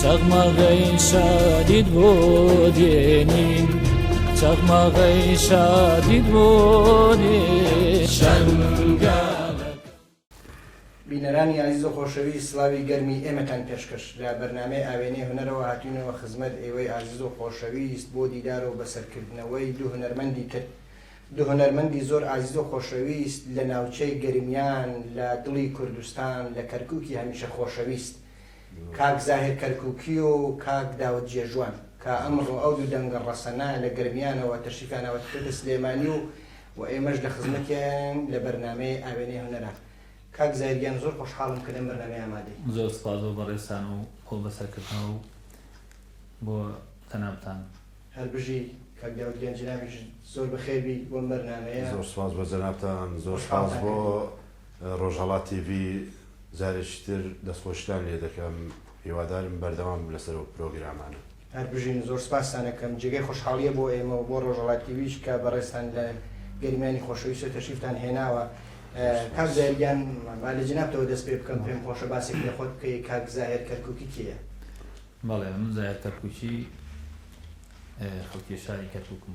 چەغمەغەی شادیت بۆ دێنین چەغمەغەی شادیت بۆ بینەرانی ئازیز و خۆشەویست سڵاوی گەرمی ئێمەتان پێشکەش لە بەرنامەی ئاوێنەی هونەرەوە هاتوینەوە خزمەت ئێوەی ئازیز و خۆشەویست بۆ دیدار و بەسەرکردنەوەی دوو هونەرمەندی تر دوو هونەرمەندی زۆر ئازیز و خۆشەویست لە ناوچەی گەرمیان لە دڵی کوردستان لە کەرکوکی هەمیشە خۆشەویست کاک زاهیر کەرکوکی و کاک داود جێژوان کە ئەمڕۆ ئەو دوو دەنگە ڕەسەنە لە گەرمیانەوە تەشریفیان ئەوەتکردە سلێمانی و و ئێمەش لە خزمەتیانین لە بەرنامەی ئاوێنەی هونەرا. کاک زاهیر گیان زۆر خۆشحاڵم کە لەم بەرنامەیە ئامادەی. زۆر سوپاس بۆ بەڕێزتان و بۆ بەسەرکردنەوە و بۆ جەنابتان. هەر بژی کاک داود گیان جەنابیشت زۆر بەخێر بی بۆم بەرنامەیە. زۆر سوپاس بۆ جەنابتان زۆر سوپاس بۆ ڕۆژهەڵات تیڤی جارێکی تر دەستخۆشیتان لێ دەکەم هیوادارم بەردەوام بن لەسەر ئەو پرۆگرامانە. هەر بژین زۆر سپاستان ئەکەم جێگای خۆشحاڵیە بۆ ئێمە و بۆ ڕۆژەڵات تیڤیش کە بەڕێزتان لە گەرمیانی خۆشەویست و تەشریفتان هێناوە کاک زاهیر گیان با لە جەنابتەوە دەست پێ بکەم پێم خۆشە باسێک لە خۆت بکەی کاک زاهیر کەرکوکی کێیە؟ بەڵێ من زاهیر کەرکوکی خەڵکی شاری کەرکوکم.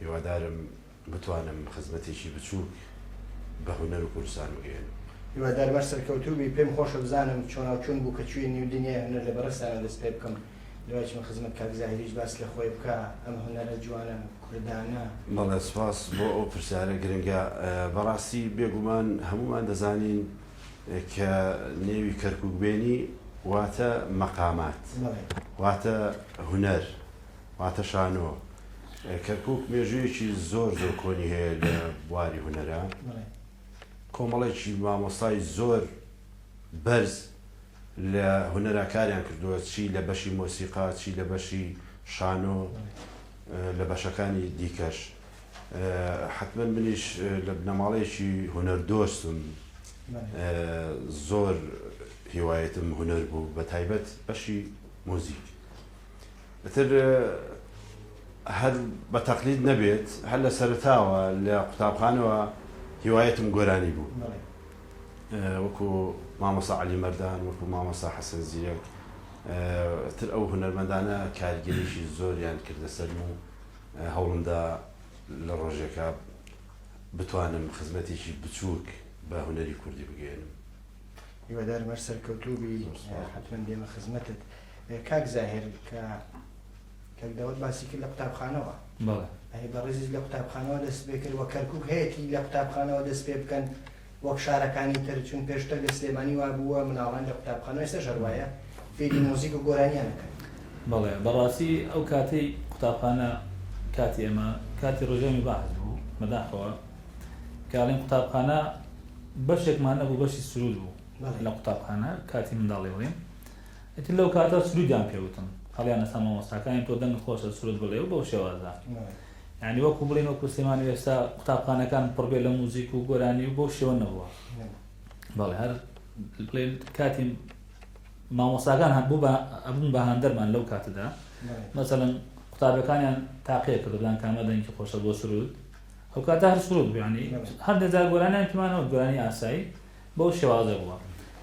هیوادارم بتوانم خزمەتێکی بچوک بە هونەر و کوردستان بگەیەنم. هیوادارم هەر سەرکەوتوو بی، پێم خۆشە بزانم چۆناو چۆن بوو کە چویە نیو دنیای هونەر لە بەڕێزتانا دەست پێ بکەم دوای چمە خزمەت کاک زاهیریش باس لە خۆی بکا ئەم هونەرە جوانە کوردانە. بەڵێ سپاس بۆ ئەو پرسیارە گرنگە بەڕاستی بێگومان هەموومان دەزانین کە نێوی کەرکوک بێنی واتە مەقامات واتە هونەر واتە شانۆ. کەرکووک مێژوویەکی زۆر زۆر کۆنی هەیە لە بواری هونەرا. کۆمەڵێکی مامۆستای زۆر بەرز لە هونەرا کاریان کردووە، چی لە بەشی مۆسیقا، چی لە بەشی شانۆ، لە بەشەکانی دیکەش. حەتمەن منیش لە بنەماڵەیەکی هونەردۆستم. زۆر هیوایەتم هونەر بوو، بەتایبەت بەشی موزیک. ئیتر هەر بە تەقلید نەبێت هەر لە سەرەتاوە لە قوتابخانەوە هیوایەتم گۆرانی بوو وەکو مامۆسا علی مەردان وەکو مامۆسا حەسەن زیرەک تر ئەو هونەرمەندانە کارگەریشی زۆریان کردە سەرم و هەوڵمدا لە ڕۆژێکە بتوانم خزمەتێکی بچووک بە هونەری کوردی بگەێنم هیوادارم هەر سەرکەوتوو بی حتمما دێمە خزمەتت کاک زاهر کە کەک داوت باسی کرد لە قوتابخانەوە ئەی بەڕێزیز لە قوتابخانەوە دەست پێ کرد وە کەرکک هەیەی لە قوتابخانەوە دەست پێ بکەن وەک شارەکانی تر چون پێشتر لە سلێمانی وا بووە مناڵان لە قوتابخانە ئێستا ژەروایە فێری مۆزیک و گۆرانیانەکەن بەڵێ بەڕاستی ئەو کاتەی قوتابخانە کاتی ئێمە کاتی ڕژێمی بەعس بوو بەداخەوە کەڵین قوتابخانە بەشێکمان نەبوو بەشی سرود بوو لە قوتابخانە کاتی منداڵی بڵێن ئەتی لەو کاتە سرودیان پێوتم هەڵیان ئەستا مامۆستاکانی تۆ دەنگ خۆشە سرود بڵێ و بەو شێوازە ینی وەکو بڵین وەکو سلێمانی وێستا قوتابخانەکان پڕبێ لە موزیک و گۆرانی و بۆ شێوە نەبووە بەڵێ هەر بڵێن کاتی مامۆستاکان هەبوو بە ئەبوون بە هاندەرمان لەو کاتەدا مەسەن قوتابەکانیان تاقیە کرددان کامە دەنگی خۆشە بۆ سرود ئەو کاتە هەر سرود بوو یانی هەندێک جار گۆرانیان پێمان نەوت گۆرانی ئاسایی بەو شێوازە بووە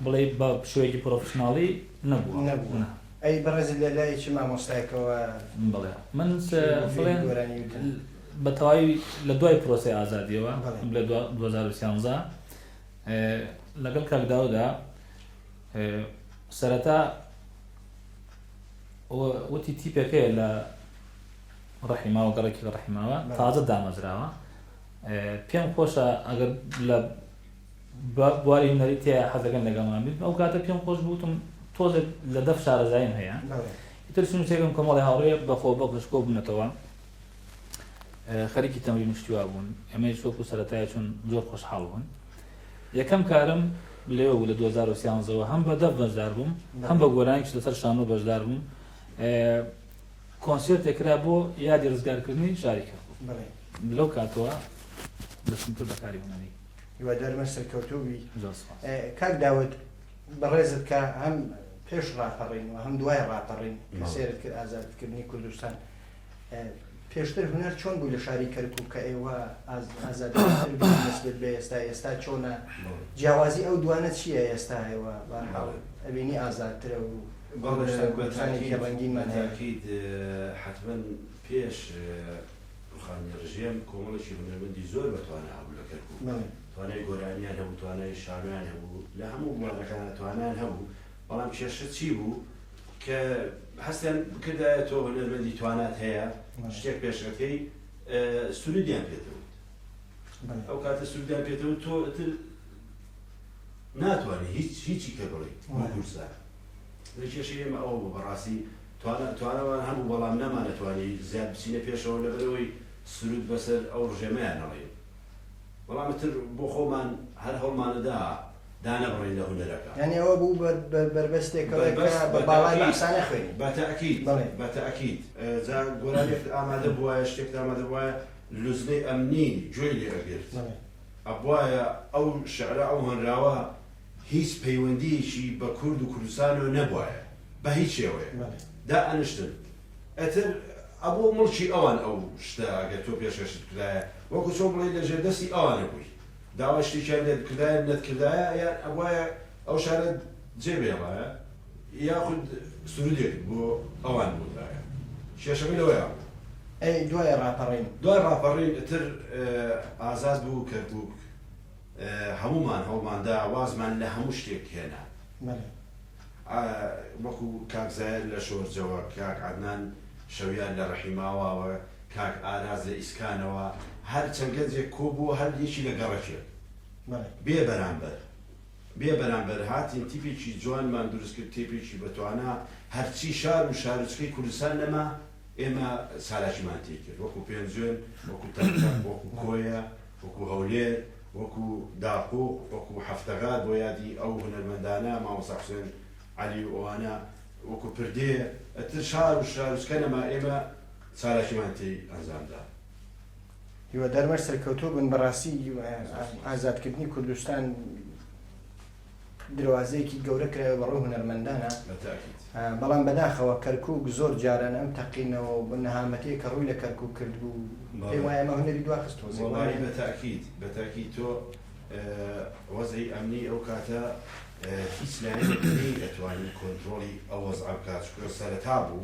بڵێ بە شێوەیەکی پرۆفشناڵی نەبووە نەبوو نا ئەی بەڕێزت لە لای چ مامۆستایەکەوە بڵێ من بڵێن گۆرانی وتن بە تەواوی لە دوای پرۆسەی ئازادیەوە بەڵێ. بڵێ دوا- 2013 ئێ، لەگەڵ کاک داودا ئێ، سەرەتا و- وتی تیپێک هەیە لە ڕەحیماوە گەڕەکی لە ڕەحیماوە تازە دامەزراوە پێم خۆشە ئەگەر لە بواری هونەری تێ حەزەکەن لەگەڵمان بیت ئەو کاتە پێم خۆش بوتم تۆزێک لە دەف شارەزایم هەیە تر سنووسێکم کۆمەڵی هاوڕێ بەخۆ بەخش کۆ بنەتەوە خەریکی تەمری مشتوا بوون ئەمەی شۆک و سەتای چون زۆر خۆشحاڵ بوون یەکەم کارم لێ بوو لە 2013ەوە هەم بە دەف بەشدار بووم هەم بە گۆرانیش لەسەر شانۆ بەشدار بووم کۆنسێرتێک کرا بۆ یادی ڕزگارکردنی شاری کەرکوک بەڵێ. لەو کاتەوە دەستم کرد بە کاری هونەری. هیوادارمە سەرکەوتوو بی. زۆر سوپاس. کاک داود بەڕێزت کە هەم پێش ڕاپەڕین و هەم دوای ڕاپەڕین کە سێرت کرد ئازادکردنی کوردستان پێشتر هونەر چۆن بوو لە شاری کەرکوک کە ئێوە ئازادتر بوو نسبت بە ئێستا ئێستا چۆنە جیاوازی ئەو دوانە چییە ئێستا ئێوە بەرحاڵ ئەبینی ئازادترە و بەڕێزم بە تاکید حەتمەن پێش روخانی رژێم کۆمەڵێکی هونەرمەندی زۆر بە توانا هەبوو لە کەرکوک توانای گۆرانیان هەبوو توانای شانۆیان هەبوو لە هەموو بوارەکانا توانایان هەبوو بەڵام کێشە چی بوو کە هەستیان بکردایە تۆ هونەرمەندی توانات هەیە شتێک پێشەکەی سرودیان پێتەوت ئەو کاتە سرودیان پێتەوت تۆ ئتر ناتوانی هیچ هیچی کە بڵێیت بۆ کوردستان لە کێشەی ئێمە ئەوە بوو بەڕاستی توانا توانامان هەبوو بەڵام نەمانەتوانی زیاد بچینە پێشەوە لەبەر ئەوەی سرود بەسەر ئەو ڕژێمەیا نەڕێین بەڵام ئیتر بۆ خۆمان هەر هەوڵمانەدا دانەبڕین لە هونەرەکە. یانی ئەوە بوو بە بە بەربەستێکەوە کە بە باڵای بەعسا نەخوێنین. بە تەئکید بەڵێ بە تەئکید جا گۆرانیەکت ئامادە بووایە شتێکت ئامادە بووایە لوجنەی ئەمنی گوێی لێ ئەگرت بەڵێ. ئەبوایە ئەو شعرە ئەو هۆنراوە هیچ پەیوەندیەکی بە کورد و کوردستانەوە نەبوایە بە هیچ شێوەیەک دا ئەنشتن ئەتر ئەبوو مڵکی ئەوان ئەو شتە ئەگەر تۆ پێشکەشت بکرایە وەکو چۆن بڵێی لە ژێر دەستی ئەوانە بووی داوای شتێکیان لێت بکردایە نەتکردایە یان ئەبوایە ئەو شعرەت جێ بهێڵایە یاخود سرودێکت بۆ ئەوان بوتایە کێشەکە لەوەیا بوو. ئەی دوای ڕاپەڕین؟ دوای ڕاپەڕین ئیتر ئازاد بوو کەرکوک هەموومان هەوڵمان دا وازمان لە هەموو شتێک هێنا وەکو کاک زاهیر لە شۆرجەوە کاک عەدنان شەویار لە ڕەحیماواوە کاک ئاراز لە ئیسکانەوە هەر چەند گەنجێک کۆبووە هەر یەکی لە گەڕەکێک بێ بەرامبەر. بێ بەرامبەر هاتین تیپێکی جوانمان دروست کرد تێپێکی بەتوانا هەرچی شار و شارۆچکەی کوردستان نەما ئێمە چالاکیمان تێ کرد وەکو پێنجوێن وەکو تەمتەم وەکو کۆیە وەکو هەولێر وەکو داقوق وەکو هەفتەگار بۆ یادی ئەو هونەرمەندانە مامۆستا حوسێن عەلی و ئەوانە وەکو پردێ ئەتر شار و شارۆچکە نەما ئێمە چالاکیمان تێی ئەنجامدا. هیوادارمە سەرکەوتوو بن بەڕاستی ئازادکردنی کوردستان دروازەیەکی گەورە کرایە بەڕوو هونەرمەندانە بەڵام بەداخەوە کەرکک زۆر جاران ئەم تەقینەوە بە نەهامەتی کە ڕووی لە کەرکک کرد بوو پێ وایە ئەمە هونەری دواخست بەتاکیت بەتاکی تۆ وەزعی ئەمنی ئەو کاتە هیچ لایەنێک ئەتوانی کۆنتترۆلی ئەوەز ئەبکات شکرە سەرەتا بوو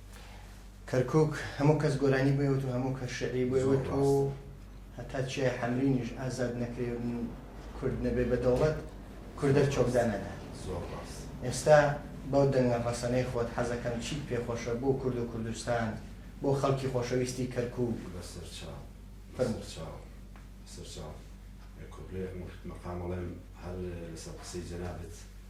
کەرکوک هەموو کەس گۆرانی بۆی وت و هەموو کەس شعری بۆی زۆر وت و ڕاستە. هەتا چیای حەمرینیش ئازاد نەکرێ و کورد نەبێ بە دەوڵەت، کوردە چۆکدا نادات. زۆر ڕاست. ئێستا بەو دەنگە ڕەسەنەی خۆت حەزەکەم چیت پێ خۆشە بۆ کورد و کوردستان، بۆ خەڵکی خۆشەویستی کەرکوک. بەسەرچاو فەرموو. بەسەرچاو بەسەرچاو. کۆپلەیەکم کرد مەقام ئەڵێم هەر لەسەر قسەی جەنابت.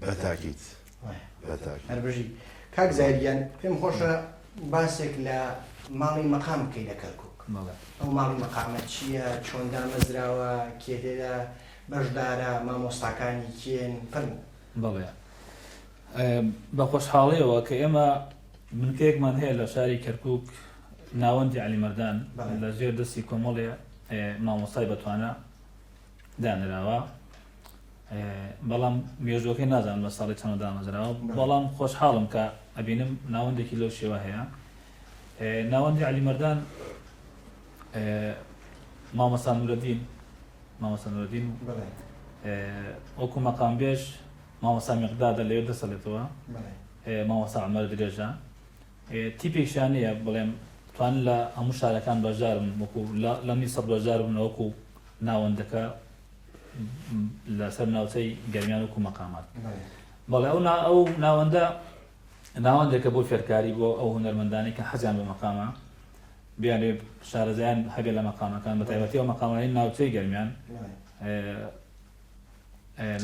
بەتاکیت هەربژی کاک زایریان پێم خۆشە باسێک لە ماڵی مەقام بکەی لە کەرکک ئەو ماڵی مەقامە چییە چۆن دامەزراوە کێدێدا بەشدارە مامۆستاکانی کێن پن بڵێ بە خۆشحاڵیەوە کە ئێمە بنکەیەکمان هەیە لە شاری کەرکوک ناوەندی علی مردان لە ژێر دەستی کۆمەڵێ مامۆستای بەتوانە دانراوە بەڵام مێژۆکەی نازان بە ساڵی چەند دامەزراوە بەڵام خۆشحاڵم کە ئەبینم ناوەندێکی لەو شێوە هەیە ناوەندی علی مردان مامەسانورەدین مامەسانورەدین وەکو مەقامبێژ مامۆستا میقدادە لەوێ دەسەلێتەوە مامۆستا عومەر درێژە تیپێکیان نییە بڵێم توان لە هەموو شارەکان بەشدارن وەکو لە میسر بەشدار بن وەکو ناوەندەکە لەسەر ناوچەی گەرمیان وکو مەقامات بەڵێ ئەو ئەو ناوەندە ناوەندێکە بۆ فێرکاری بۆ ئەو هونەرمەندانی کە حەزیان بە مەقامە بیانێ شارەزایان هەبێ لە مەقامەکان بە تایبەتی ئەو مەقامانی ناوچەی گەرمیان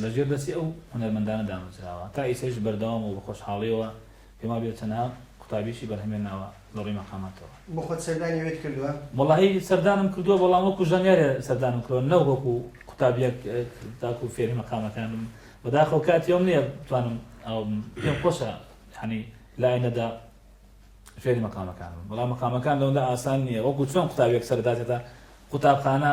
لە ژێر دەستی ئەو هونەرمەندانە دامەزراوە تا ئیستەش بەردەوامە و بە خۆشحاڵیەوە پێم وابێت چەندەها قوتابیشی بەرهەمێناوە لە ڕووی مەقاماتەوە. بۆ خۆت سەردانی ئەوێت کردووە؟ وەڵاهی سەردانم کردووە بەڵام وەکو ژانیارێ سەردانم کردووە نەک وەکو قوتابیەک تاکو فێری مەقامەکان بم بەداخەوە کاتی ئەوم نیە بتوانم ئەو بم پێم خۆشە یەعنی لە ئایندەدا فێری مەقامەکان بم بەڵام مەقامەکان لەوەندە ئاسان نیە وەکو چۆن قوتابیەک سەرداتێتە قوتابخانە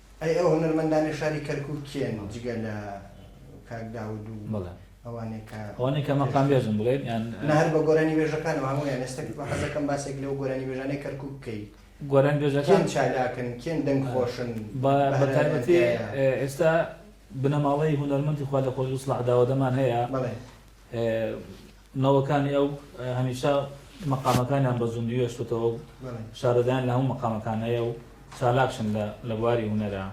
ئەی ئەو هونەرمەندانەی شاری کەرکوک کێن جگە لە کاک داود و ئەوانەی کە ئەوانەی کە مەقام بێژن بڵێن یان نە هەر بە گۆرانی بێژەکانەوە هەموویان ئێستا حەزەکەم باسێک لەو گۆرانی بێژانەی کەرکوک بکەی گۆران بێژەکان کێن چالاکن کێن دەنگ خۆشن بە بەتایبەتی ئێستا بنەماڵەی هونەرمەندی خوا لە خۆشبوو سڵاح داودەمان هەیە بەڵێ نەوەکانی ئەو هەمیشە مەقامەکانیان بە زوندوی هێشتۆتەوە و شارەزایان لە هەموو مەقامەکان هەیە و چالاکشن لە لە بواری هونەرا.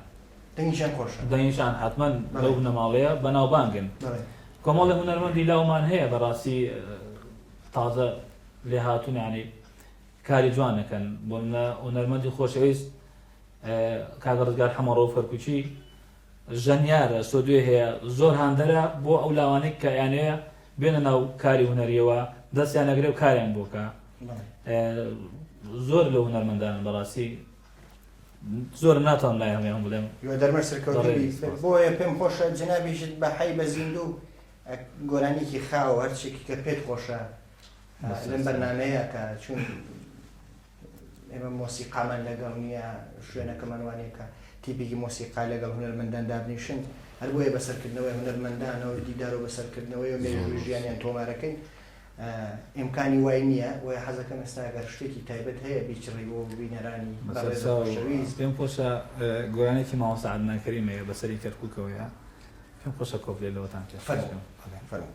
دەنگیشیان خۆشە. دەنگیشان حەتمەن لەو بنەماڵەیە بەناوبانگن. کۆمەڵێ هونەرمەندی لاومان هەیە بەڕاستی تازە لێهاتوون یانی کاری جوان ئەکەن بۆ نمونە هونەرمەندی خۆشەویست کاک ڕزگار حەمەڕەوف کەرکوکی ژەنیارە سۆدوێ هەیە زۆر هاندەرە بۆ ئەو لاوانەی کە ئەیانەوێ بێنە ناو کاری هونەریەوە دەستیان ئەگرێ و کاریان بۆ بکا زۆر لەو هونەرمەندانن بەڕاستی زۆر ناتوانم لای هەمویان بڵێم یۆ دەرمە سەرکەوتوبی بەڕێز سپاس. بۆیە پێم خۆشە جەنابیشت بە حەی بە زیندوو ئە، گۆرانیەکی خاو هەرچیەکی کە پێت خۆشە ئە، بەسە لەم سەر. بەرنامەیە کە چون ئێمە مۆسیقامان لەگەڵ نییە، شوێنەکەمان وا نییە کە تیپێکی مۆسیقا لەگەڵ هونەرمەندان دابنیشن، هەر بۆیە بە سەرکردنەوەی هونەرمەندانەوە و دیدار و بەسەرکردنەوەی و مێژووی ژیانیان تۆمارەکەین، ئیمکانی وای نییە، بۆیە حەز دەکەم ئێستا گەر شتێکی تایبەت هەیە بیچڕی بۆ بینەرانی بەڕێز و خۆشەویست. پێم خۆشە گۆرانیەکی مامۆستا عەدنان کەریم هەیە بەسەری کەرکوکەوەیە، پێم خۆشە کۆپلەی لەوەتان پێشکەش بکەم. فەرموو.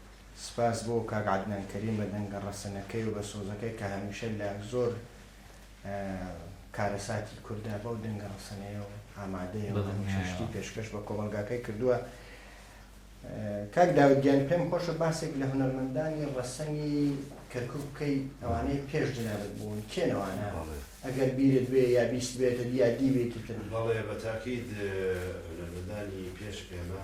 سپاس بۆ کاک عەدنان کەریم بە دەنگە ڕەسەنەکەی و بە سۆزەکەی کە هەمیشە لە زۆر کارەساتی کوردا بەو دەنگە ڕەسەنەیە و ئامادەیە و هەمیشە شتی پێشکەش بە کۆمەڵگاکەی کردووە کاک داود گیان پێم خۆشە باسێک لە هونەرمەندانی ڕەسەنی کەرکک بکەی ئەوانەی پێش جنابت بوون کێنەوانە ئەگەر بیرت بێ یا بیست بێتت یا دیوێتی تر بەڵێ بە تاکید هونەرمەندانی پێش ئێمە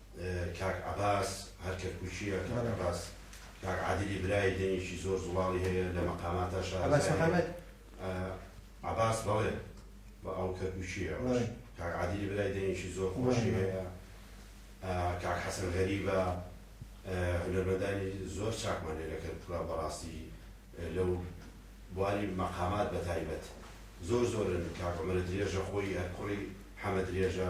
کاک عەباس هەر کەرکوکیە کاک عەباس کاک عادلی برای دەنگێکی زۆر زوڵاڵی هەیە لە مەقاماتا شارەزایە عەباس بەڵێ بە ئەو کەرکوکیە کاک عادلی برای دەنگێکی زۆر خۆشی هەیە کاک حەسەن غەریبە هونەرمەندانی زۆر چاکمان لێ لە کەرکوکا بەڕاستی لەو بواری مەقامات بە تایبەت زۆر زۆرن کاک عمرە درێژە خۆی هەر کوڕی حەمە درێژە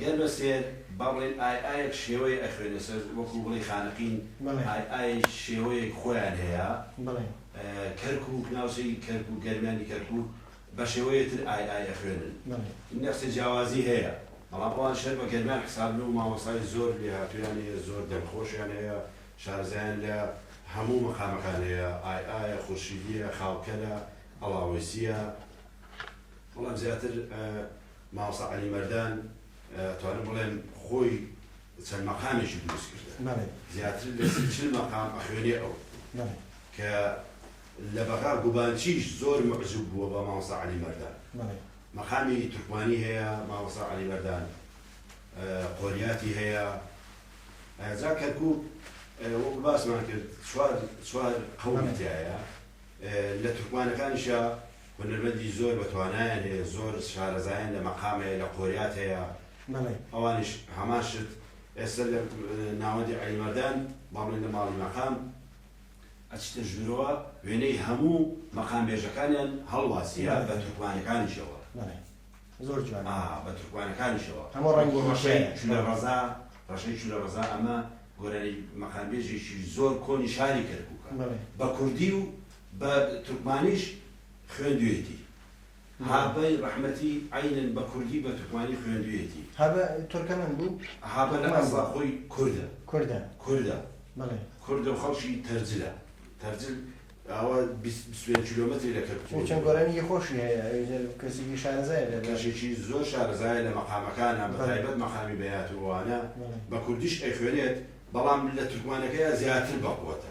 گەر بە سێر با بڵێین ئای ئایەک شێوەیە ئەخوێنێ سەر وەکوو بڵێی خانەقین بەڵێ. ئای ئایەیش شێوەیەک خۆیان هەیە بەڵێ. کەرکووک ناوچەی کەرکووک گەرمیانی کەرکووک بە شێوەیە تر ئای ئای ئەخوێنن بەڵێ. نەخچە جیاوازی هەیە بەڵام ئەوان شەر بە گەرمیان حسابن و مامۆستای زۆر لێهاتوویان هەیە زۆر دەنگ خۆشیان هەیە شارەزایان لە هەموو مەقامەکان هەیە ئای ئایە خورشیدییە خاوکەلە ئەڵاوەیسییە بەڵام زیاتر مامۆستا عەلی مەردان ئەتوانم بڵێم خۆی چەند مەقامێکی دروست کردە زیاتر لە سی چل مەقام ئەخوێنێ ئەو کە لە بەغا گوبانچیش زۆر مەعجوب بووە بە مامۆستا عەلی مەردان مەقامی تورکمانی هەیە مامۆستا عەلی مەردان قۆریاتی هەیە جا کەرکوک وەکو باسمان کرد چوار چوار قەوم تایە لە تورکمانەکانیشە هونەرمەندی زۆر بە توانایان هەیە زۆر شارەزایان لە مەقام هەیە لە قۆریات هەیە ئەوانیش هەمان شت ئێستا لە ناوەندی عەلی مەردان بەڵێن لە ماڵی مەقام ئەچیتە ژورەوە وێنەی هەموو مەقام بێژەکانیان هەڵواسیە بە تورکمانەکانیشەوە زۆر جوان بە تورکمانەکانیشەوە هەموو ڕەنگی ڕەشەی چولە ڕەزا ڕەشەی چولە ڕەزا ئەمە گۆرانی مەقامبێژێکی زۆر کۆنی شاری کەرکوکە بە کوردی و بە تورکمانیش خوێندویەتی. هابە رەحمەتی عەینەن بە کوردی بە تورکمانی خوێندویەتی. هابە تورکەمەن بوو؟ هابە لە ئەسڵا خۆی کوردە. کوردە. کوردە. بەڵێ. کوردە و خەڵکی تەرجلە. تەرجل ئاوا بیست بیست و پێنج کیلۆمەتری لە کەرکوک دوورە. چەند گۆرانیەکی خۆشی هەیە. ئەویتر کەسێکی شارەزایە لە. کەشێکی زۆر شارەزایە لە مەقامەکانا بە تایبەت مەقامی بەیات و ئەوانە. بە کوردیش ئەیخوێنێت بەڵام لە تورکمانەکەیا زیاتر بەقوەتە.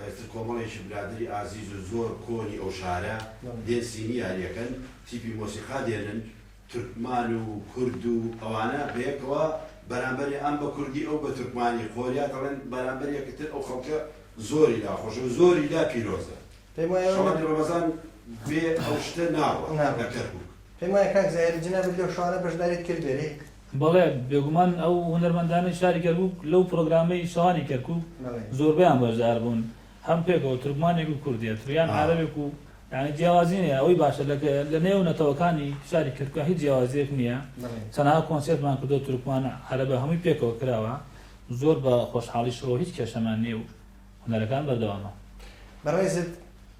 ئێستا کۆمەڵێکی برادەری ئازیز و زۆر کۆنی ئەو شارە دێن سینیاری ئەکەن، تیپی مۆسیقا دێنن، تورکمان و کورد و ئەوانە بەیەکەوە بەرامبەر ئەم بە کوردی ئەو بە تورکمانی قۆریا دەڵێن بەرامبەر یەکتر ئەو خەڵکە زۆری لا خۆشە و زۆری لا پیرۆزە. پێم وایە ئەوە شەوانی ڕەمەزان بێ ئەو شتە ناڕوا لە نابڕوا. کەرکوک. پێم وایە کاک زاهیر جەنابت لەو شەوانە بەشداریت کردبێ لێ بەڵێ، بێگومان ئەو هونەرمەندانەی شاری کەرکووک لەو پرۆگرامەی شەوانی کەرکووک زۆربەیان بەشدار بوون، هەم پێکەوە تورکمانێک و کورد دێت و یان عەرەبێک و یانی جیاوازی نییە، ئەوەی باشە لە لە نێو نەتەوەکانی شاری کەرکووک هیچ جیاوازییەک نییە، چەناها کۆنسێرتمان کردووە تورکمانە، عەرەبە هەمووی پێکەوە کراوە، زۆر بە خۆشحاڵیشەوە هیچ کێشەمان نییە و هونەرەکان بەردەوامە. بەڕێزت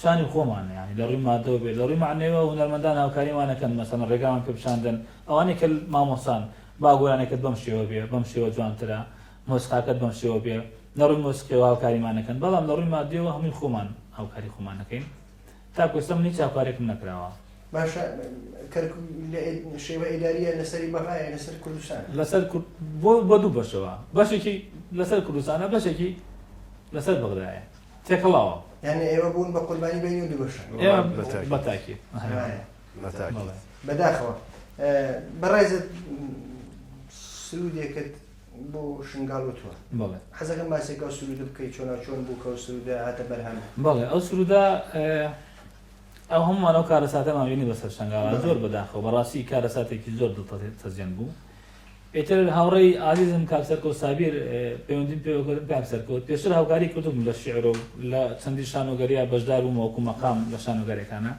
شانی خۆمان یانی لە ڕووی ماددەوە بێت لە ڕووی مەعنەویەوە هونەرمەندان هاوکاریمان نەکەن مەسەلەن ڕێگامان پێ بچاندن ئەوانەی کە مامۆستان با گۆرانێکت بەم شێوە بێ بەم شێوە جوانترە مۆسیقاکەت بەم شێوە بێ لە ڕووی مۆسیقیەوە هاوکاریمان نەکەن بەڵام لە ڕووی ماددیەوە هەمووی خۆمان هاوکاری خۆمان نەکەین تاکو ئێستا من هیچ هاوکارێکم نەکراوە باشە کەرکوک لە شێوە ئیداریە لەسەری مەغایە لەسەر کوردستان لەسەر کورد بۆ بۆ دوو بەشەوە بەشێکی لەسەر کوردستانە بەشێکی لەسەر بەغدایە تێکەڵاوە یعنی ئێوە بوون بە قوربانی بینی و دوبەشە بەتاکی بەداخەوە بەڕێزت سرودێکت بۆ شنگال و تۆ حەزەکەم باسێکەوە سرود بکەیت چۆنا چۆن بوو کە سرودە هاتە بەرهەم بەڵێ ئەو سرودا ئەو هەمووانەوە کارەساتەماوینی بەسەر شنگاڵ زۆر بەداخەوە بەڕاستی کارەساتێکی زۆر دڵ تەزیێن بوو ئیتر هاوڕێی ئازیزم کاک سەرکەوت سابیر پەیوەندیم پێوە کردم، کاک سەرکەوت پێشتر هاوکاری کردبووم لە شیعر و لە چەندین شانۆگەرییە بەشدار بووم وەکوو مەقام لە شانۆگەرییەکانا،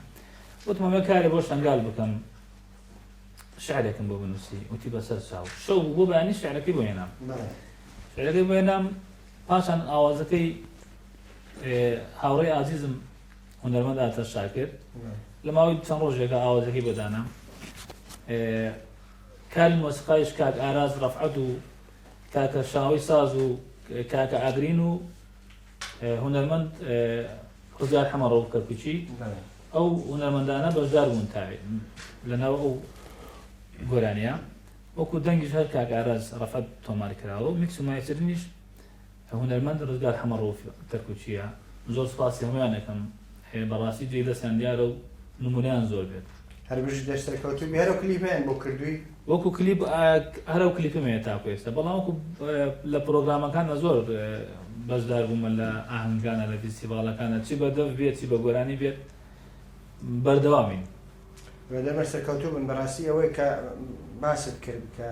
وتم ئەمە کارێ بۆ شەنگال بکەم شیعرێکم بۆ بنووسی، وتی بە سەر چاو. شەو بوو بۆ بەیانی شیعرەکەی بۆ هێنام. شیعرەکەی بۆ هێنام پاشان ئاوازەکەی هاوڕێی ئازیزم هونەرمەند ئارتەش شاکر لە ماوەی چەند ڕۆژێکە ئاوازەکەی بۆ دانام. کاری مۆسیقایش کاک ئاراس ڕەفعەت و کاکە شاوەی ساز و کاکە ئاگرین و هونەرمەند خوزیار حەمە ڕەوف کەرکوچی ئەو هونەرمەندانە بەشدار بوون تاێ لەناو ئەو گۆرانیە وەکو دەنگیش هەر کاک ئاراز ڕەفەت تۆمار کراوە و میکس و مایسرنیش هونەرمەند ڕزگار حەمە ڕەوف کەرکوکییە زۆر سپاسی هەموویانەکەم هەیە بەڕاستی جێی دەستیان دیارە و نمونەیان زۆر بێت. هەر بژی دەست سەرکەوتوو بی. هەرەو کلیپەیان بۆ کردووی؟ وەکو کلیپ هەرەو کلیپم هەیە تاکو ئێستا بەڵام وەکو لە پرۆگرامەکانا زۆر بەشدار بوومە لە ئاهەنگانا لە ڤیستیڤاڵەکانا چی بە دەف بێت چی بە گۆرانی بێت بەردەوامین. لەمەش سەرکەوتوو بن بەڕاستی ئەوەی کە باست کرد کە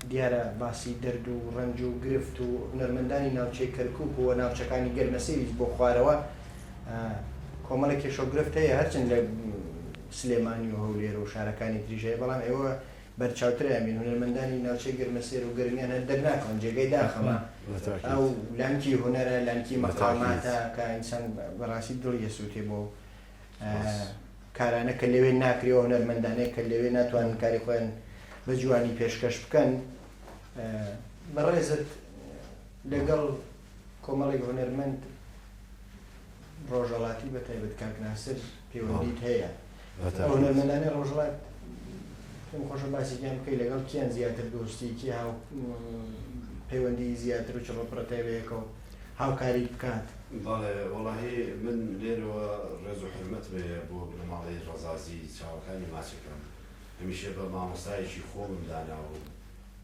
دیارە باسی دەرد و ڕەنج و گرفت و هونەرمەندانی ناوچەی کەرکوک و ناوچەکانی گەرمەسێویست بۆ خوارەوە کۆمەڵە کێشە و گرفت هەیە هەرچند لە سلێمانی و هەولێر و شارەکانی تریش هەیە بەڵام ئێوە بەرچاوتریان بین هونەرمەندانی ناوچەی گەرمەسێر و گەرمیان هەر دەرناکەون جێگەی داخەمە ئەو لانکی هونەرە لانکی مەقاماتە کە ئینسان بەڕاستی دڵی دەسووتێ بۆ کارانە کە لەوێ ناکرێ و هونەرمەندانەی کە لەوێ ناتوانن کاری خۆیان بە جوانی پێشکەش بکەن بەڕێزت لەگەڵ کۆمەڵێک هونەرمەند ڕۆژەڵاتی بە تایبەت کاک ناسر پێوەندیت هەیە هونەرمەندانی ڕۆژڵات پێم خۆشە باسێکیان بکەی لەگەڵ کیان زیاتر دۆستیکی هاو پەیوەندی زیاتر و چڕۆپڕەتەوەیەکەوە هاوکاریت بکات. بەڵێ وەڵاهی من لێرەوە ڕێزو حورمەتم هەیە بۆ بنەماڵەی ڕەزازی چاوەکانی ماچەکەم هەمیشە بە مامۆستایەکی خۆمم داناوە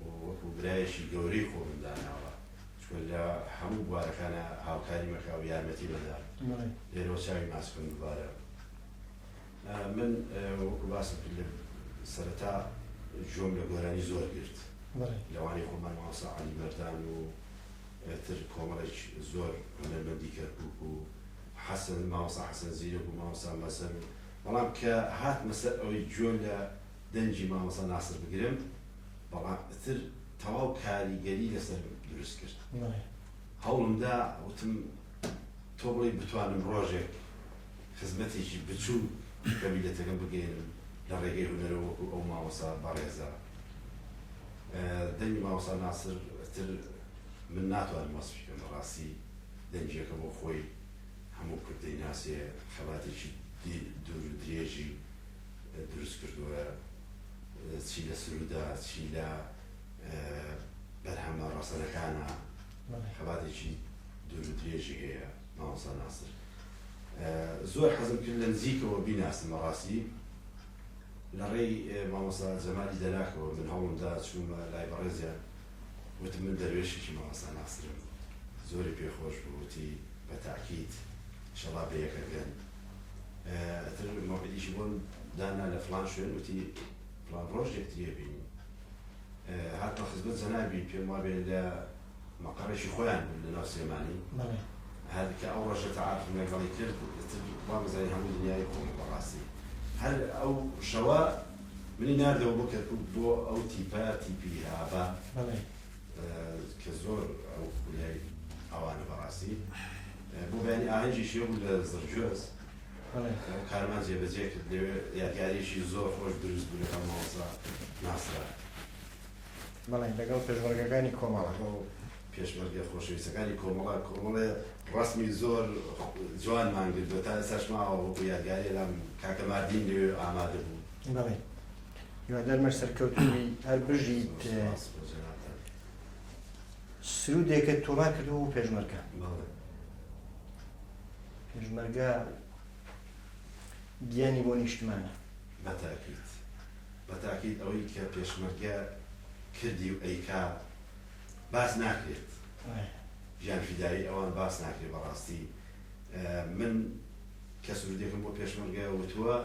و وەکو برایەکی گەورەی خۆمم داناوە چونکە لە هەموو بوارەکانا هاوکاریم ئەکا و یارمەتیم ئەدا لێرەوە چاوی ماچکەم دوبارە من وەکو باسم کرد لە سەرەتا جۆم لە گۆرانی زۆر گرت لەوانی خۆمان مامۆستا عەلی مەردان و تر کۆمەڵێک زۆر هونەرمەندی کەرکوک و حەسەن مامۆستا حەسەن زیرەک و مامۆستا مەزهەر و بەڵام کە هاتمە سەر ئەوەی گوێ لە دەنگی مامۆستا ناسر بگرم بەڵام تر تەواو کاریگەری لەسەرم دروست کرد هەوڵم دا وتم تۆ بڵێ بتوانم ڕۆژێک خزمەتێکی بچوو بە میلەتەکەم بگەێنم لە ڕێگەی هونەرە وەکو ئەو مامۆسا بەڕێزە دەنگی مامۆستا ناسر تر من ناتوانم وەسفی بکەم بەڕاستی دەنگیەکە بۆ خۆی هەموو کورد دەیناسێ خەباتێکی دوور و درێژی دروست کردووە چی لە سرودا چی لە بەرهەمە ڕەسەنەکانە خەباتێکی دوور و درێژی هەیە مامۆستا ناسر زۆر حەزم کرد لە نزیکەوە بیناسم بەڕاستی لە ڕێی مامۆستا جەمالی دەلاکەوە من هەوڵمدا چوومە لای بەڕێزیان وتم من دەروێشێکی مامۆستا ناسرم زۆری پێ خۆش بوو وتی بە تاکید شەڵا بە یەکە گەن ئەتر مەوعیدیشی بۆن دانا لە فلان شوێن وتی فلان ڕۆژ یەکتریە بینی هاتمە خزمەت جەنابی پێم وابێ لە مەقەڕێکی خۆیان بوون لەناو سلێمانی هەر کە ئەو ڕۆژە تەعاقم لەگەڵی کرد ئەتر وامزانی هەموو دنیای کۆم بەڕاستی هەر ئەو شەوە منی ناردەوە بۆ کەرکوک بۆ ئەو تیپە تیپی ئاڤا کە زۆر ئەو خولیای ئەوانە بەڕاستی بۆ بەیانی ئاهەنگی شێ بوو لە زڕجۆز ئەو کارمان جێبەجێ کرد لەوێ یادگاریشی زۆر خۆش دروست بوو لەگەڵ مامۆستا ناسرە بەڵێ لەگەڵ پێشمەرگەکانی کۆمەڵە پێشمەرگە خۆشەویستەکانی کۆمەڵە کۆمەڵە ڕەسمی زۆر جوانمان گرت و تا ئێستاش ماوە وەکو یادگاری لام کاکە ماردین لەوێ ئامادە بوو بەڵێ هیوادارمە سەرکەوتنی هەر بژیت سرودێکە تۆڵا کردەوە و پێشمەرگە پێشمەرگە گیانی بۆ نیشتمانە بەتاکیت بەتاکیت ئەوەی کە پێشمەرگە کردی و ئەیکا باس ناکرێت ژیان فیدایی ئەوان باس ناکرێت بەڕاستی من کە سرودێکم بۆ پێشمەرگە وتووە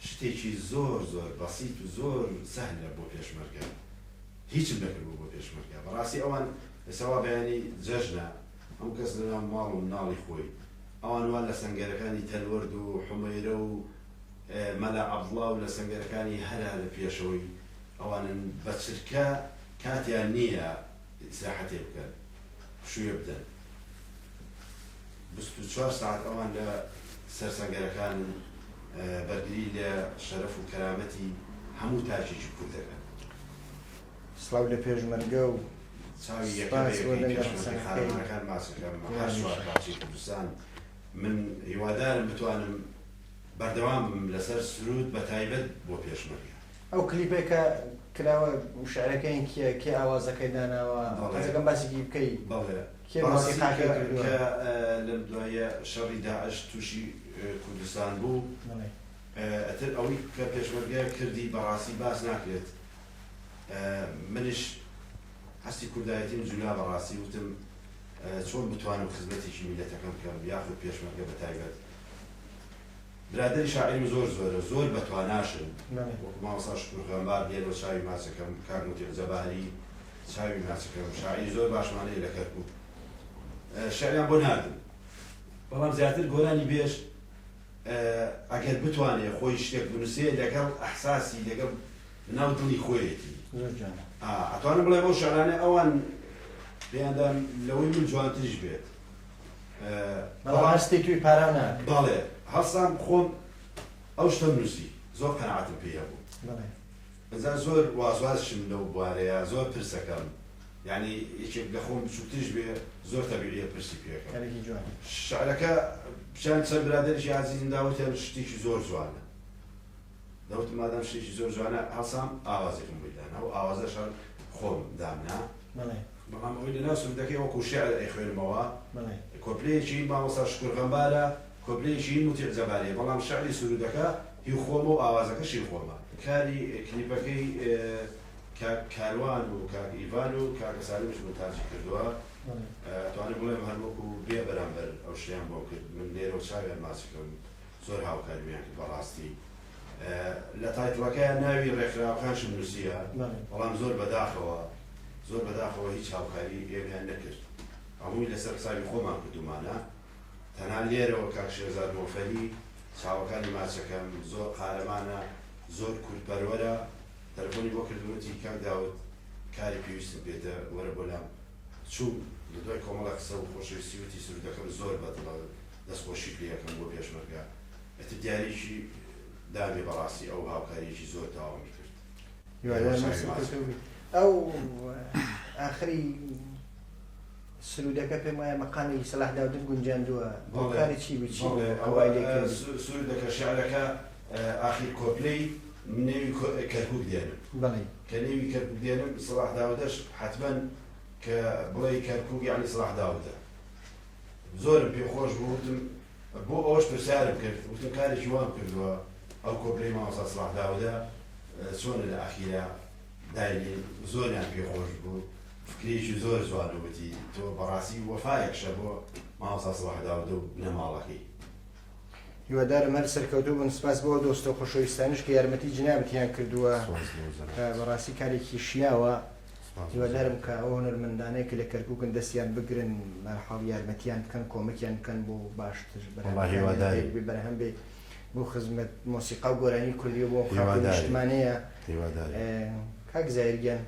شتێکی زۆر زۆر بەسییت و زۆر سەهلە بۆ پێشمەرگە هیچم نەکردبوو بۆ پێشمەرگە بەڕاستی ئەوان ئێسەوا بەیانی جەژنە ئەم کەس لەنا ماڵ و مناڵی خۆی ئەوان وان لە سنگەرەکانی تەلوەرد و حمەیرە و مەلا عەبڵاو لە سنگەرەکانی هەرا لە پێشەوەی ئەوانن بە چرکە کاتیان نیە ئیسراحەتێ بکەن پشووێ بدەن بیست و چوار سەعات ئەوان لە سەر سەنگەرەکانن بەرگری لە شەرەف و کەرامەتی هەموو تاکێکی کورد دەکەن. سڵاو لە پێشمەرگە و چاوی یەکە بە یەکەی پێشمەرگە قارەمانەکان باس ئەکەم هەر چوار پارچەی کوردستان من هیوادارم بتوانم بەردەوام بم لەسەر سروود بەتایبەت بۆ پێشمەرگە. ئەو کلیپەی کە کراوە شعرەکەین کیە کێ ئاوازەکەی داناوە حەز ئەکەم باسێکی بکەی بەڵێ کێ مۆسیقاکەی کردووە کە لەم دواییە شەڕی داعش تووشی کوردستان بوو ئەتر ئەوی کە پێشمەرگە کردی بەڕاستی باس ناکرێت منیش هەستی کوردایەتیم جولا بەڕاستی وتم چۆن بتوانم خزمەتێکی میلەتەکەم بکەم یاخود پێشمەرگە بەتایبەت برادەری شاعیرم زۆر زۆرە زۆر بەتواناشن وەکو مامۆستا شکور غەمبار دێن و چاوی ماچەکەم کاک موتیق جەباری چاوی ماچەکەم شاعیری زۆر باشمان هەیە لە کەرکوک شعریان بۆ ناردم بەڵام زیاتر گۆرانی بێژ ئەگەر بتوانێت خۆی شتێک بنووسێ لەگەڵ ئەحساسی لەگەڵ ناو دڵی خۆیەتی ئەتوانم بڵێ بۆ شارانە ئەوان پێیاندان لەوەی من جوانتریش بێت بەڵام هەستی توی پارا ناکەی. بەڵێ هەڵسام خۆم ئەو شتەم نوسی زۆر قەناعەتم پێی هەبوو. بەڵێ. ئینجا زۆر وازوازشم لەو بوارەیا زۆر پرسەکەم یانی یەکێک لە خۆم بچوکتریش بێ زۆر تەبیعیە پرسی پێ کەم. کارێکی جوانە. شعرەکە چەن چەن برادەریکی ئازیزم داوەتیان شتیکی زۆر جوانە. دەوتم مادام شتێکی زۆر جوانە هەڵسام ئاوازێکم بۆی دانا و ئاوازەش هەر خۆم دامنا بەڵێ بەڵام ئەوەی لەناو سرودەکەی وەکو شیعر ئەیخوێنمەوە بەڵێ کۆپلەیەکی هی مامۆستا شکور غەمبارە کۆپلەیەکی هی موتیع جەباریە بەڵام شیعری سرودەکە هی خۆمە و ئاوازەکەش هی خۆمە کاری کلیپەکەی کاک کاروان و کاک ئیڤان و کاکە سالمیش مونتاجی کردووە بەڵێ ئەتوانم بڵێم هەر وەکو بێ بەرامبەر ئەو شتەیان بۆم کرد من لێرەوە چاویان ماچ بکەم زۆر هاوکاریمیان کرد بەڕاستی لە تایتڵەکەیا ناوی ڕێکخراوەکانشم نووسیە بەڵام زۆر بەداخەوە زۆر بەداخەوە هیچ هاوکاری ئێمەیان نەکرد هەمووی لەسەر حسابی خۆمان کردومانە تەنها لێرەوە کاک شێرزاد مۆفەری چاوەکانی ماچەکەم زۆر قارەمانە زۆر کوردپەروەرە تەلەفۆنی بۆ کردوەتی کاک داود کاری پێویستم پێتە وەرە بۆ لام چوو لە دوای کۆمەڵە قسە و خۆشەویستی وتی سرودەکەم زۆر بەدڵە دەست خۆشی پێ ئەکەم بۆ پێشمەرگە ئەتر دیاریکی دانێ بەڕاستی ئەو هاوکاریەکی زۆر تاوامی کرد ئەو ئاخری سرودەکە پێم وایە مەقامی سەلاح داودن گونجاندووە بۆکاری چی بچی ئەوای سرودەکە شعرەکە ئاخیر کۆپلەی نێوی کەرکک دێنم کە نێوی کەرکک دێنم سەلاح داودەش حتمما کە بڵێ کەرکک یعنی سەلاح داودە زۆرم پێ خۆش بوو وتم بۆ ئەوەش پرسیارم کرد وتم کارێکی وام کردووە ئەو کۆپلەی مامۆستا سڵاح داودە چۆنە لە ئەخیرا دایلی زۆریان پێ خۆش بوو فکرێکی زۆر جوانەوەتی تۆ بەڕاستی وەفایەکشە بۆ مامۆستا سڵاح داودە و بنەماڵەکەی هیوادارم هەر سەرکەوتوو بن سپاس بۆ دۆستە خۆشەویستانش کە یارمەتی جنابتیان کردووە بەڕاستی کارێکی شیاوە هیوادارم کە ئەو هونەرمەندانەی کە لە کەرکوکن دەستیان بگرن بەرحاڵ یارمەتیان بکەن کۆمەکیان بکەن بۆ باشتر بەرهەمەکانیان بەرهەم بێ بۆ خزمەت مۆسیقا و گۆرانی کوردی بۆ خاک و نیشتمانەیە کاک زاهیر گیان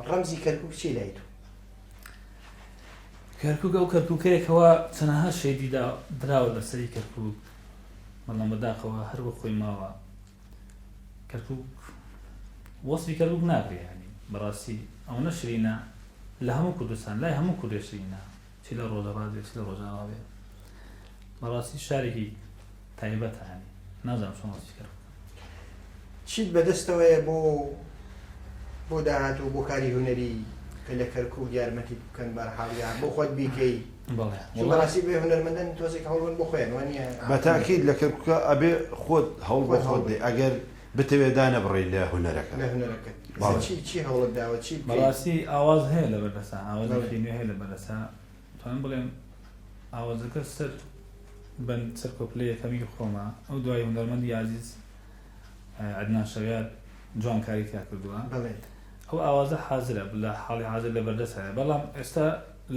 ڕەمزی کەرکوک چی لای تۆ کەرکک ئەو کەرککەیەکەوە چەنەها شەیدیدا دراوە لەسەری کەرکک بەڵام بەداخەوە هەروە خۆی ماوە کەرکوک وەسفی کەرکوک ناکرێ یانی بەڕاستی ئەوەنە شرینە لە هەموو کوردستان لای هەموو کوردێ شرینە چی لە ڕۆژەڕات بێ چی لە ڕۆژاوا بێ بەڕاستی شارێکی تایبەتانی نازانم چۆن وەسفی کەرکوک چیت بەدەستەوەیە بۆ بۆ داهاتوو بۆ کاری هونەری کە لە کەرکوک یارمەتیت بکەن بەرحاڵ یان بۆ خۆت بیکەی چون بەڕاستی بێ هونەرمەندن تۆزێک هەوڵبەن بۆ خۆیان وانیە؟ بەتاکید لە کەرکوکە ئەبێ خۆت هەوڵ بۆ خۆت دەی ئەگەر بتەوێ دانەبڕێی لە هونەرەکە. لە هونەرەکەت ئیسە چی چی هەوڵت داوە چی بکەی؟ بەڕاستی ئاواز هەیە لە بەردەسا ئاوازێکی نوێ هەیە لە بەردەسا توانم بڵێم ئاوازەکە سەر بەند سەر کۆپلەی یەکەمی خۆمە ئەو دوای هونەرمەندی ئازیز عەدنان شەویار جوان کاری تیا کردووە ئەو ئاوازە حازرە لە حاڵی حازر لە بەردەسایە بەڵام ئێستا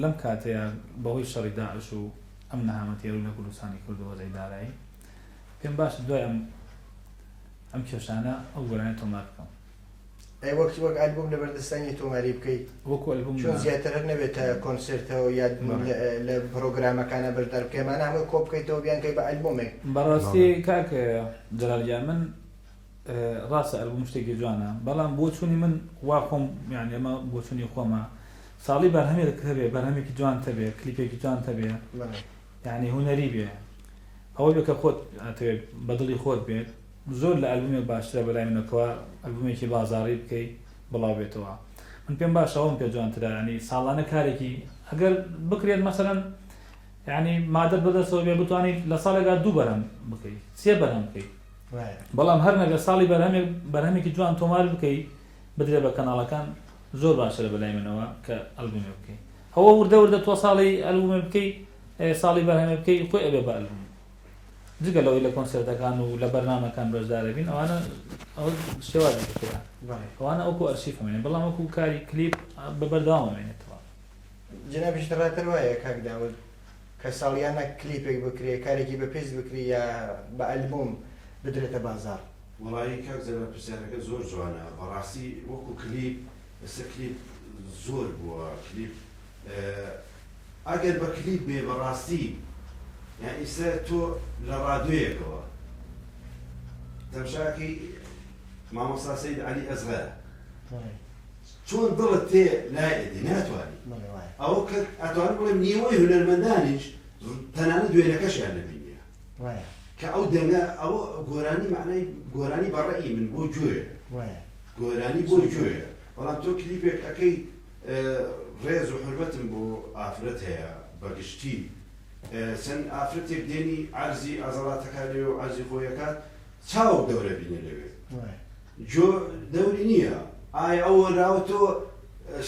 لەم کاتەیا بەهۆی شەڕی داعش و ئەم نەهامە تێرو لە کوردستانی کردو وەزعی دارایی، پێم باشە دوای ئەم ئەم کێشانە ئەو گۆرانیە تۆمار بکەم. ئەی وەک وەک ئەلبوم لە بەردەستانی تۆماری بکەیت؟ وەکو ئەلبوم نا. چۆن زیاتر هەر نەبێت تا کۆنسێرتەوە یا بەڕێ. لە پرۆگرامەکانا بەشدار بکەی ئەمانە هەمووی کۆ بکەیتەوە بیانکەی بە ئەلبومێک؟ بەڕاستی کاک جەلال گیان من. ڕاستە ئەلبوم شتێکی جوانە بەڵام بۆچوونی من وا خۆم یان ئێمە بۆچوونی خۆمە ساڵی بەرهەمێک هەبێ بەرهەمێکی جوان تەبێ کلیپێکی جوان تەبێ یعنی هوەری بێ ئەوە بێ کە خۆت ئەتەوێت بەدڵی خۆت بێت زۆر لە ئەلبومێک باشترە بەلای منەکەوە ئەلبومێکی بازاری بکەی بڵاو بێتەوە من پێم باشەوەم پێ جوانترە ینی ساڵانە کارێکی ئەگەر بکرێت مەسەرەن ینی مادە بەدەستەوە بێ بتوانیت لە ساڵێکدا دوو بەرەم بکەیت سێ بەرەم بکەیت بەڵام هەر نەگە ساڵی بەرهەمێک بەرهەمێکی جوان تۆمار بکەی بدرێ بە کەناڵەکان زۆر باشە لە بەلای منەوە کە ئەلبومێ بکەی هەوە وردە وردە تۆ ساڵی ئەلبومێ بکەی ساڵی بەرهەمێ بکەی خۆی ئەبێ بە ئەلبوم جگە لەوەی لە کۆنسرتەکان و لە بەرنمەکان بەشدارە بین ئەوانە ئەو شێوازی کرا ئەوانە ئەوکو ئەرشیفمێنێ بەڵام وەکو کاری کلیپ بە بەرداوامێنێتەوە جنابیش ڕاتەر وایە کاک داود کە ساڵیانە کلیپێک بکرێ کارێکی بە پێست بکری یا بە ئەلبوم بدرێتە بازاڕ. وەڵایی کاک جەلال پرسیارەکەت زۆر جوانە بەڕاستی وەکو کلیپ ئێستا کلیپ زۆر بووە کلیپ ئەگەر بە کلیپ بێ بەڕاستی یان ئیستا تۆ لە ڕادوێیەکەوە تەمشاکەی مامۆستا سەید عەلی ئەسغەر چۆن دڵت تێ لای ئەدی ناتوانی بەڵێ وایە. ئەوە کە ئەتوانم بڵێم نیوەی هونەرمەندانیش تەنانەت وێنەکەشیان نەبینیە وایە. کە ئەو دەنگە ئەوە گۆرانی مەعنای گۆرانی بە ڕەئی من بۆ گوێ وایە. گۆرانی بۆ گوێ بەڵام تۆ کلیپێک ئەکەی ڕێز و حورمەتم بۆ ئافرەت هەیە بە گشتی چەند ئافرەتێک دێنی عەرزی عەزەڵاتەکانی و عەرزی خۆی ئەکات چاوەک دەورە بینە لەوێ وایە. جۆ دەوری نییە ئایا ئەو هۆنراوە تۆ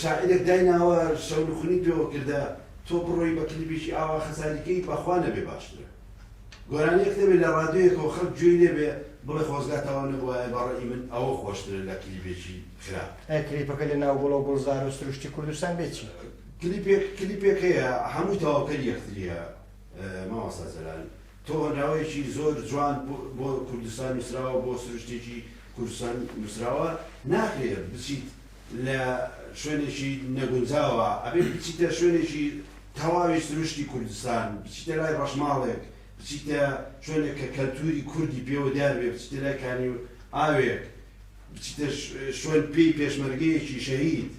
شاعیرێک دایناوە شەونخونی پێوە کردە تۆ بڕۆی بە کلیپێکی ئاوا خەساری کەی بەخوا نەبێ باشترە گۆرانیەک نەبێ لە ڕادیۆیەکەوە خەڵک گوێی لێ بێ بڵێ خۆزگا تەواو نەبوایە بە ڕەئی من ئەوە خۆشترە لە کلیپێکی خراپ. ئەی کلیپەکە لە ناو گوڵەو گوڵزار و سروشتی کوردستان بێ چی؟ کلیپێک کلیپێک هەیە هەمووی تەواوکەری یەکتریە مامۆستا جەلال. تۆ ناوێکی زۆر جوان بۆ کوردستان نوسراوە بۆ سروشتێکی کوردستان نوسراوە ناکرێ بچیت لە شوێنێکی نەگونجاوە ئەبێ بچیتە شوێنێکی تەواوی سروشتی کوردستان بچیتە لای ڕەشماڵێک بچیتە شوێنێک کە کەلتوری کوردی پێوە دیار بێ بچیتە لای کانی ئاوێک بچیتە شوێن پێی پێشمەرگەیەکی شەهید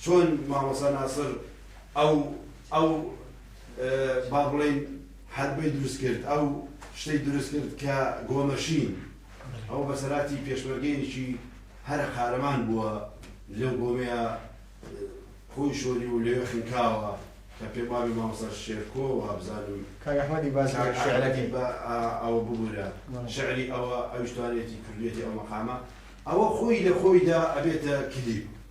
چۆن مامۆستا ناسر ئەو ئەو با بڵێین حەربەی دروست کرد ئەو شتەی دروست کرد کە گۆمەشین ئەو بەسەراتی پێشمەرگەیەکی هەرە قارەمان بووە لەو گۆمەیە خۆی شۆری و لەوێ خنکاوە کە پێم وابێ مامۆستا شێرکۆ وا بزانم کاک ئەحمەدی باس کاک ئەحمەدی شعرەکەی با ئا- ئەوە ببورە شعری ئەوە ئەویش توانێتی کردوێتی ئەو مەقامە ئەوە خۆی لە خۆیدا ئەبێتە کلیپ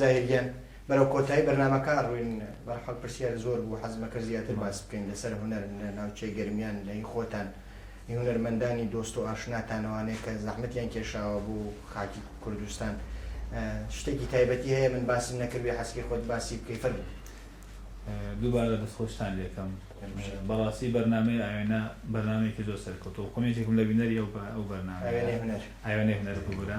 زاهیر گیان بەرەو کۆتایی بەرنامەکە ئەڕۆین بەرحاڵ پرسیار زۆر بوو حەزم ئەکرد زیاتر باس بکەین لەسەر هونەر لە ناوچەی گەرمیان لە هی خۆتان هی هونەرمەندانی دۆست و ئاشناتان ئەوانەیە کە زەحمەتیان کێشاوە بۆ خاکی کوردستان شتێکی تایبەتی هەیە من باسم نەکردوێ حەسکی خۆت باسی بکەی فەرموو دووبارە دەستخۆشتان لێکەم بەڕاستی بەرنامەی ئاوێنە بەرنمەیەکی زۆر سەرکەوتوە کۆمێنتێکم لە بینەری ئەو بە ئەو بەرنامە ئاوێنەی هونەر ئاوێنەی هونەر ببورە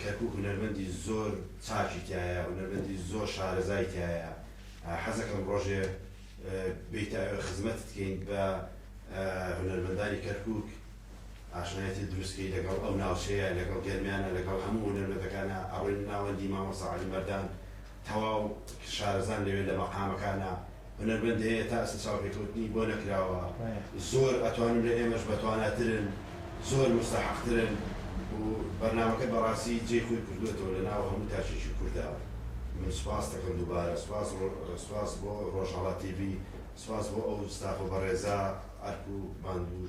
کەرکوک هونەرمەندی زۆر چاکی تیایە هونەرمەندی زۆر شارەزای تیایە حەزەکەم ڕۆژێ بیتە ئەوێ خزمەتت کەین بە هونەرمەندانی کەرکوک ئاشنایەتی دروست کەی لەگەڵ ئەو ناوچەیە لەگەڵ گەرمیانە لەگەڵ هەموو هونەرمەندەکانە ئەڕۆین ناوەندی مامۆستا عەلی مەردان تەواو شارەزان لەوێ لە مەقامەکانە هونەرمەند هەیە تا ئەستە چاوپێکەوتنی بۆ نەکراوە زۆر ئەتوانم لە ئێمەش بەتواناترن زۆر موستەحەقترن و بەرنامەکەت بەڕاستی جێی خۆی کردووەتەوە لە ناو هەموو تاکێکی کوردا من سوپاست دەکەم دووبارە سوپاس سوپاس بۆ ڕۆژهەڵات تی ڤی سوپاس بۆ ئەو ستافە بەڕێزە ئەرک و ماندوو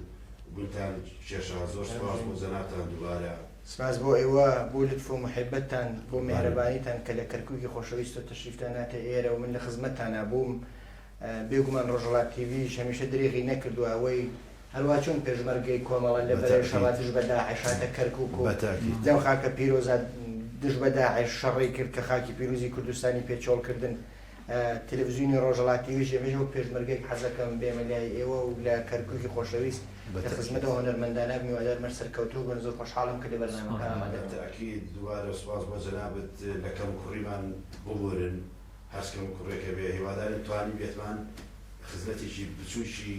بونتان کێشا زۆر سوپاس بۆ جەنابتان دووبارە. سپاس بۆ ئێوە بۆ لوتف و محبەتتان، بۆ میهرەبانیتان کە لە کەرکوکی خۆشەویستەوە تەشریفتان ناتە ئێرە و من لە خزمەتتانا بووم. بێگومان ڕۆژهەڵات تیڤیش هەمیشە درێغی نەکردووە ئەوەی هەروا چۆن پێشمەرگەی کۆمەڵە لە بەرەی شەڕا دژ بە داعش هاتە کەرکوک و لەو خاکە پیرۆزە دژ بە داعش شەڕی کرد کە خاکی پیروزی کوردستانی پێ چۆڵ کردن تلفزیونی ڕۆژەڵاتی وێژێ بێژە وەک پێشمەرگەیەک حەزەکەم بێمە لای ئێوە و لە کەرکوکی خۆشەویست لە خزمەت ئەو هونەرمەندانە بم هیوادارم هەر سەرکەوتوو بن زۆر خۆشحاڵم کە لە بەرنامەکە ئامادە بووم. بەتاکید دووبارە سوپاس بۆ جەنابت لە کەموکوڕیمان ببورن هەرچ کەموکوڕێکە بێ هیوادارین توانیبێتمان خزمەتێکی بچوکی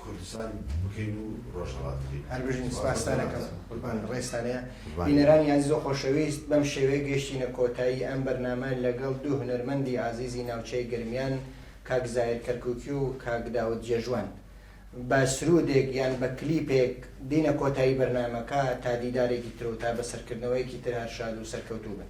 کوردستان بکەین و ڕۆژهەڵات بکەین. هەر بژین سپاستان ئەکەم. قوربان ڕێزتان هەیە. بینەرانی ئازیز و خۆشەویست بەم شێوەیە گەیشتینە کۆتایی ئەم بەرنامە لەگەڵ دوو هونەرمەندی ئازیزی ناوچەی گەرمیان کاک زاهیر کەرکوکی و کاک داود جێژوان. بە سرودێک یان بە کلیپێک دینە کۆتایی بەرنامەکە تا دیدارێکی تر و تا بەسەرکردنەوەیەکی تر هەر شاد و سەرکەوتوو بن.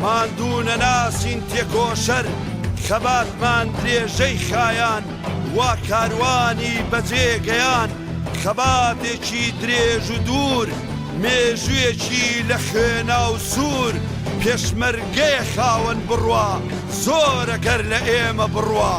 ماندوو نەناسین تێکۆشەر خەباتمان درێژەی خایاند وا کاروانی بەجێ گەیاند خەباتێکی درێژ و دوور مێژوویەکی لە خوێنا و سوور پێشمەرگەیە خاوەن بڕوا زۆرە گەر لە ئێمە بڕوا.